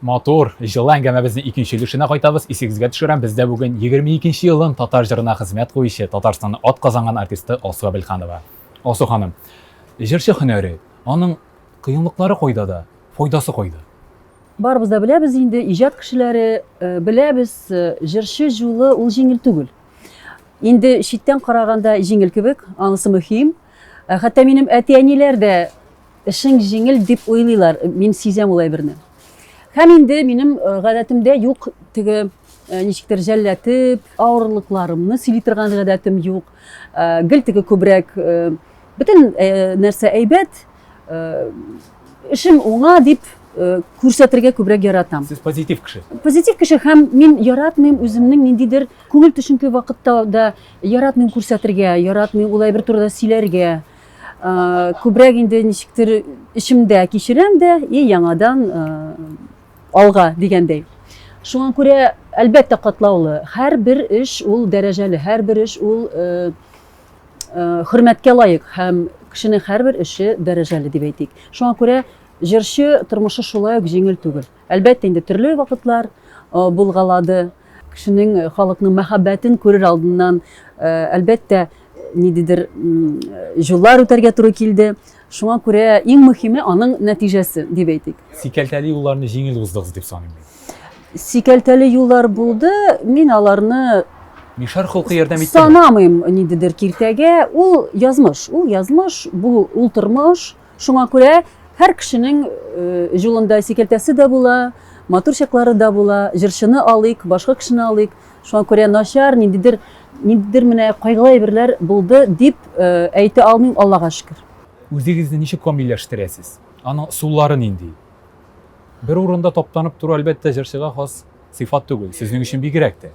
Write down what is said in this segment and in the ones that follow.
Матур, җылы әңгәмәбезнең икенче өлешенә кайтабыз. Исегезгә төшерәм, бездә бүген 22 нче елын татар җырына хезмәт куючы, Татарстанның атказанган артисты Алсу Әбелханова. Алсу ханым, җырчы һөнәре, аның кыенлыклары кайда да, файдасы кайда? Барыбыз да беләбез инде, иҗат кешеләре э, беләбез, э, җырчы җулы ул җиңел түгел. Инде читтән караганда җиңел кебек, анысы мөһим. Э, хәтта минем әти-әниләр дә Эшең җиңел дип уйлыйлар, мин сизәм ул әйберне. Һәм инде минем гадәтемдә юк теге ничектер жәлләтеп, авырлыкларымны сөйли торган гадәтем юк. Гел теге күбрәк бөтен нәрсә әйбәт, эшем уңа дип күрсәтергә күбрәк яратам. Сез позитив кеше. Позитив кеше һәм мин яратмыйм үземнең ниндидер күңел төшенке вакытта да яратмыйм күрсәтергә, яратмыйм улай бер турыда сөйләргә. Күбрәк инде ничектер эчемдә кичерәм дә и яңадан алга дигәндәй. Шуңа күрә, әлбәттә, катлаулы. Һәрбер эш ул дәрәҗәле, һәрбер эш ул хөрмәткә лаек һәм кешенең һәрбер эше дәрәҗәле дип әйтик. Шуңа күрә җырчы тормышы шулай ук җиңел түгел. Әлбәттә инде төрле вакытлар булгалады. Кешенең, халыкның мәхәббәтен күрер алдыннан, әлбәттә, ниндидер юллар үтәргә туры килде. Шуңа күрә иң мөһиме аның нәтиҗәсе, дип әйтик. Сикәлтәле юлларны җиңел уздыгыз дип саныйм мин. Сикәлтәле юллар булды, мин аларны Мишар холкы ярдәм итте. Санамыйм ниндидер киртәгә, ул язмыш, ул язмыш, бу ул тормыш. Шуңа күрә һәр кешенең җулында сикәлтәсе дә була, матур чаклары да була. Җырчыны алыйк, башка кешене алыйк. Шуңа күрә начар, ниндидер, ниндидер менә кайгылы әйберләр булды дип әйтә алмыйм, Аллага шөкер. Үзегезне ничек камилләштерәсез? Аның ысуллары нинди? Бер урында таптанып тору, әлбәттә, җырчыга хас. Сыйфат түгел, сезнең өчен бигрәк тә.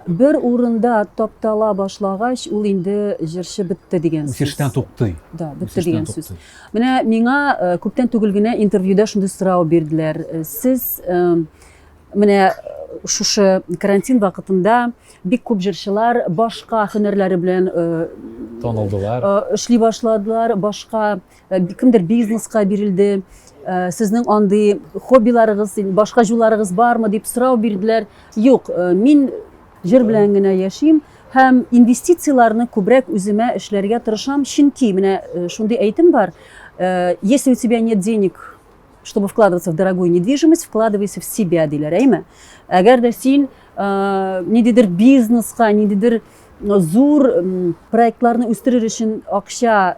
Бер урында таптала башлагач, ул инде җырчы бетте дигән сүз. Үсештән туктый. Да, бетте дигән сүз. Менә миңа э, күптән түгел генә интервьюда шундый сорау бирделәр. Э, сез э, менә шушы карантин вакытында бик күп җырчылар башка һөнәрләре белән танылдылар. Эшли башладылар, башка Э, кемдер бизнеска бирелде э, сезнең андый хоббиларыгыз башка җуларыгыз бармы дип сорау бирделәр юк э, мин җыр белән генә яшим һәм инвестицияләрне күбрәк үземә эшләргә тырышам чөнки менә шундый әйтем бар если у тебя нет денег чтобы вкладываться в дорогую недвижимость вкладывайся в себя диләр әйме әгәр дә син ниндидер бизнеска ниндидер зур проектларны үстерер өчен акча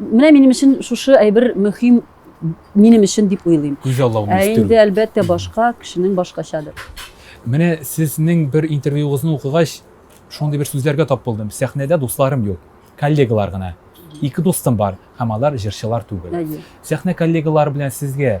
Менә минем өчен шушы әйбер мөһим минем өчен дип уйлыйм. Күз аллауны Ә инде әлбәттә башка кешенең башкачадыр. Менә сезнең бер интервьюгызны укыгач, шундый бер сүзләргә тап булдым. Сәхнәдә дусларым юк, коллегалар гына. Ике дустым бар, һәм алар җырчылар түгел. Сәхнә коллегалары белән сезгә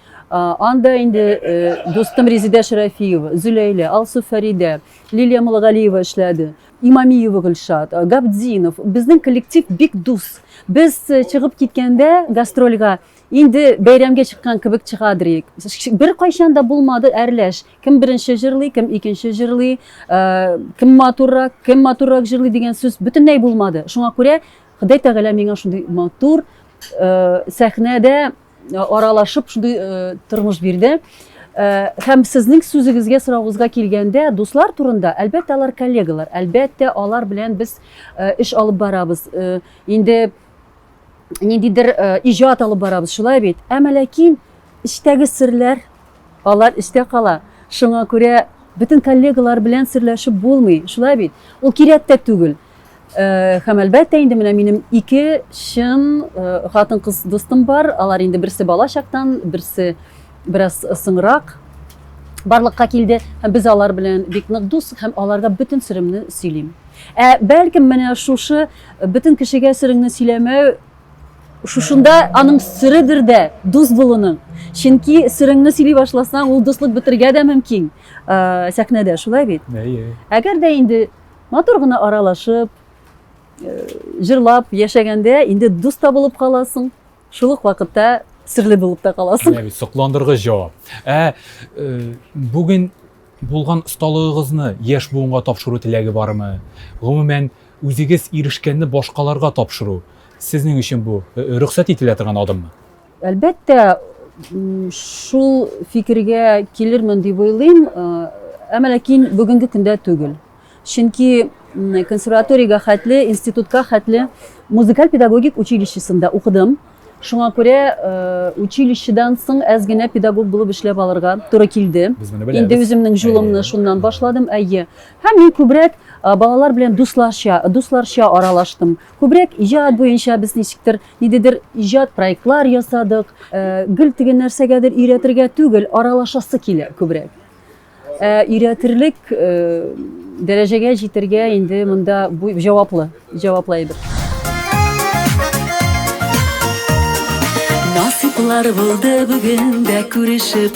Анда инде дустым Резидә Шәрәфиева, Зөләйлә, Алсу Фәридә, Лилия Мулгалиева эшләде. Имамиева Гөлшат, Габдзинов. Безнең коллектив бик дус. Без чыгып киткәндә гастрольга инде бәйрәмгә чыккан кебек чыгадыр идек. Бер кайчан да булмады әрләш. Кем беренче җырлый, кем икенче җырлый, кем матуррак, кем матуррак җырлый дигән сүз бөтенләй булмады. Шуңа күрә Ходай Тәгалә миңа шундый матур сәхнәдә аралашып шундый тормыш бирде Э, һәм сезнең сүзегезгә сорауыгызга килгәндә дуслар турында әлбәттә алар коллегалар әлбәттә алар белән без э, эш алып барабыз э, инде ниндидер иҗат алып барабыз шулай бит әмма ләкин эчтәге серләр алар эчтә кала шуңа күрә бөтен коллегалар белән серләшеп булмый шулай бит ул кирәк тә түгел Һәм әлбәттә инде менә минем ике чын хатын-кыз дустым бар. Алар инде берсе бала чактан, берсе бераз соңрак барлыкка килде. Һәм без алар белән бик нык дус һәм аларга бөтен сыремны сөйлим. Ә бәлкем менә шушы бөтен кешегә сырыңны сөйләмәү шушында аның сырыдыр да дус булуның. Чөнки сырыңны сөйли башласаң, ул дуслык бетергә дә мөмкин. Сәхнәдә шулай бит. Әгәр дә инде Матур гына аралашып, э, җырлап яшәгәндә инде дус та булып каласың, шул ук вакытта серле булып та каласың. Менә бит сокландыргыч җавап. Ә э, бүген булган осталыгыгызны яшь буынга тапшыру теләге бармы? Гомумән, үзегез ирешкәнне башкаларга тапшыру сезнең өчен бу э, рөхсәт ителә торган адыммы? Әлбәттә, шул фикергә килермен дип уйлыйм, әмма ләкин бүгенге көндә түгел. Чөнки консерваториягә хәтле, институтка хәтле музыкаль педагогик училищесында укыдым. Шуңа күрә э, училищедан соң әз генә педагог булып эшләп алырга туры килде. Инде үземнең жулымны шуннан башладым, әйе. Һәм мин күбрәк э, балалар белән дусларча, дусларча аралаштым. Күбрәк иҗат буенча без ничектер Нидедер иҗат проектлар ясадык. Э, гел теге нәрсәгәдер өйрәтергә түгел, аралашасы килә күбрәк. Э, өйрәтерлек э, дәрәҗәгә җитергә инде монда бу җаваплы, җаваплы әйбер. Насыйплар булды бүген дә күрешеп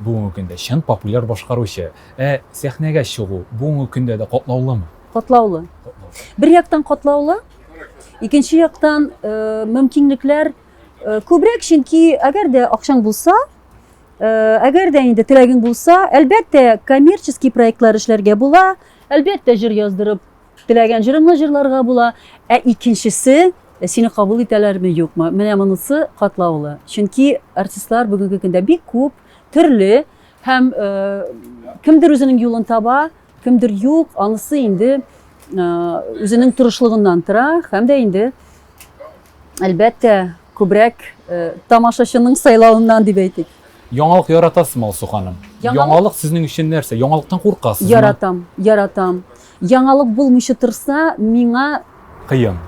Бүгенге көндә чын популяр башкаручы. Ә сәхнәгә чыгу бүгенге көндә дә катлаулымы? Катлаулы. Бер яктан катлаулы, икенче яктан мөмкинлекләр күбрәк, чөнки әгәр дә акчаң булса, әгәр дә инде теләгең булса, әлбәттә, коммерческий проектлар эшләргә була, әлбәттә, җыр яздырып Теләгән җырыңны җырларга була. Ә икенчесе, сине кабул итәләрме, юкмы? Менә монысы катлаулы. Чөнки артистлар бүгенге көндә бик күп, төрле һәм кемдер үзенең юлын таба, кемдер юк, анысы инде үзенең тырышлыгыннан тора һәм дә инде әлбәттә күбрәк тамашачының сайлавыннан дип әйтик. Яңалык яратасызмы, Алсу ханым? Яңалык сезнең өчен нәрсә? Яңалыктан куркасызмы? Яратам, яратам. Яңалык булмыйча торса, миңа. Кыен.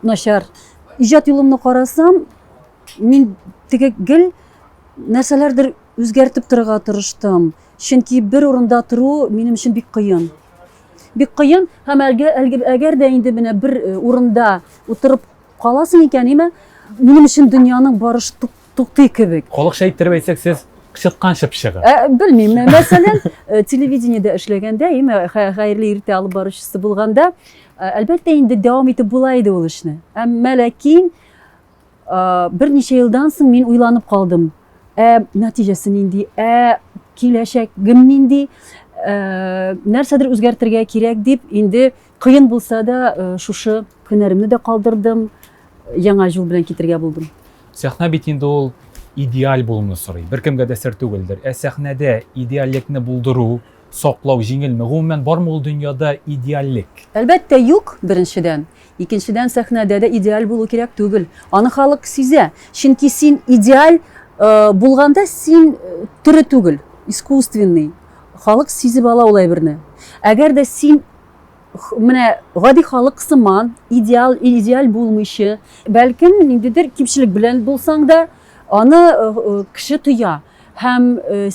Начар. Иҗат юлымны карасам, мин теге гел нәрсәләрдер үзгәртеп торырга тырыштым. Чөнки бер урында тору минем өчен бик кыен. Бик кыен һәм әгәр дә инде менә бер э, урында утырып каласың икән, име, минем өчен дөньяның барышы туктый кебек. Халыкча иттереп әйтсәк, сез чыткан чыпчыгы. Ә, белмим. Мәсәлән, э, телевидениедә эшләгәндә, име э, хәерле иртә алып баручысы булганда, э, әлбәттә инде дәвам итеп була иде ул эшне. Әмма ләкин берничә елдан соң мин уйланып калдым. Ә нәтиҗәсе нинди? Ә киләчәгем нинди? Нәрсәдер үзгәртергә кирәк дип инде Кыен булса да, шушы һөнәремне дә калдырдым, яңа юл белән китергә булдым. Сәхнә бит инде ул идеаль булуны сорый. Беркемгә дә сер түгелдер. Ә сәхнәдә идеальлекне булдыру, саклау җиңелме? Гомумән бармы ул дөньяда идеальлек? Әлбәттә, юк, беренчедән. Икенчедән, сәхнәдә дә идеаль булу кирәк түгел. Аны халык сизә. Чөнки син идеаль э, булганда син э, тере түгел, искусственный. Халык сизеп ала ул әйберне. Әгәр дә син менә гади халык сыман идеал идеаль булмыйчы, бәлкем ниндидер кимчелек белән булсаң да, аны э, э, кеше тоя һәм э,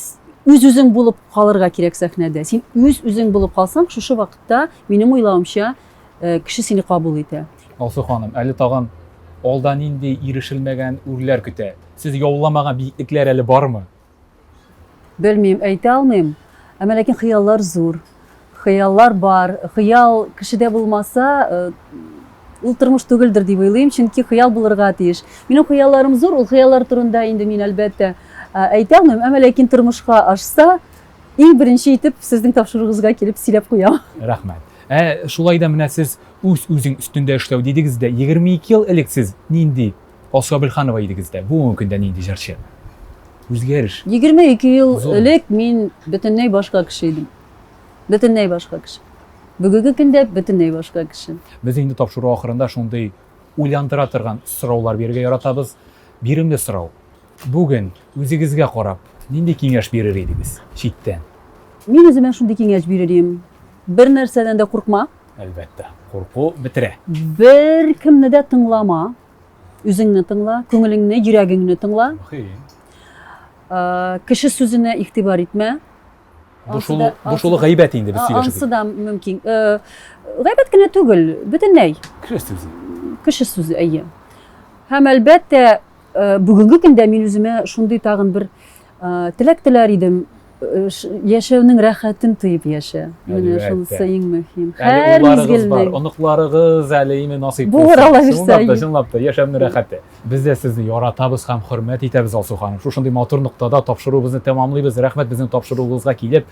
үз үзең булып калырга кирәк сәхнәдә. Син үз үзең булып калсаң, шушы вакытта минем уйлавымча кеше сине кабул итә. Алсу ханым, әле тагын алда нинди ирешелмәгән үрләр көтә? Сез яуламаган биеклекләр әле бармы? Белмим, әйтә алмыйм. Әмма ләкин хыяллар зур. Хыяллар бар. Хыял кешедә булмаса, э, ул тормыш түгелдер дип уйлыйм, чөнки хыял булырга тиеш. Минем хыялларым зур, ул хыяллар турында инде мин әлбәттә э, әйтә алмыйм, әмма ләкин тормышка ашса, иң беренче итеп сезнең тапшыруыгызга килеп сөйләп куям. Рәхмәт. Ә шулай да менә сез үз-үзең өстендә эшләү дидегез дә, 22 ел элек сез нинди Алсу Абелханова идегез дә, бүгенге көндә нинди җырчы? Үзгәреш. Егерме ике ел элек мин бөтенләй башка кеше идем. Бөтенләй башка кеше. Бүгенге көндә бөтенләй башка кеше. Без инде тапшыру ахырында шундый уйландыра торган сораулар бирергә яратабыз. Биремле сорау. Бүген үзегезгә карап, нинди киңәш бирер идегез читтән? Мин үземә шундый киңәш бирер идем. Бер нәрсәдән дә куркма. Әлбәттә, курку бетерә. Беркемне дә тыңлама. Үзеңне тыңла, күңелеңне, йөрәгеңне тыңла. Мөһим. Э, кеше сүзенә игътибар итмә. Бу шул, бу шул гайбәт инде без сөйләшәбез. Ансы да мөмкин. Э, гайбәт кенә түгел, бөтенләй. Кеше сүзе. Кеше сүзе, әйе. Һәм әлбәттә, э, бүгенге көндә мин үземә шундый тагын бер Теләк теләр идем, яшәүнең рәхәтен тоеп яшә. Менә шунысы иң мөһим. Һәр мизгелне. Оныкларыгыз әле име насыйп булса. Булыр Алла бирсә. Чынлап та, чынлап та яшәүнең рәхәте. Без дә сезне яратабыз һәм хөрмәт итәбез, Алсу ханым. Шушындый матур ноктада тапшыруыбызны тәмамлыйбыз. Рәхмәт безнең тапшыруыбызга килеп,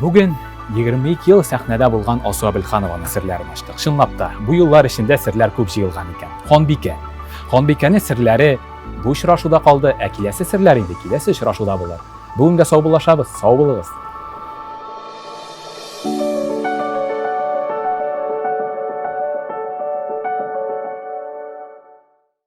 Бүген 22 ел сәхнәдә булган Алсу Абелханованың серләрен ачтык. Чынлап та, бу еллар эчендә серләр күп җыелган икән. Ханбикә. Ханбикәнең серләре бу очрашуда калды, ә киләсе серләр инде киләсе очрашуда булыр. Бүгенгә сау булашабыз, сау булыгыз.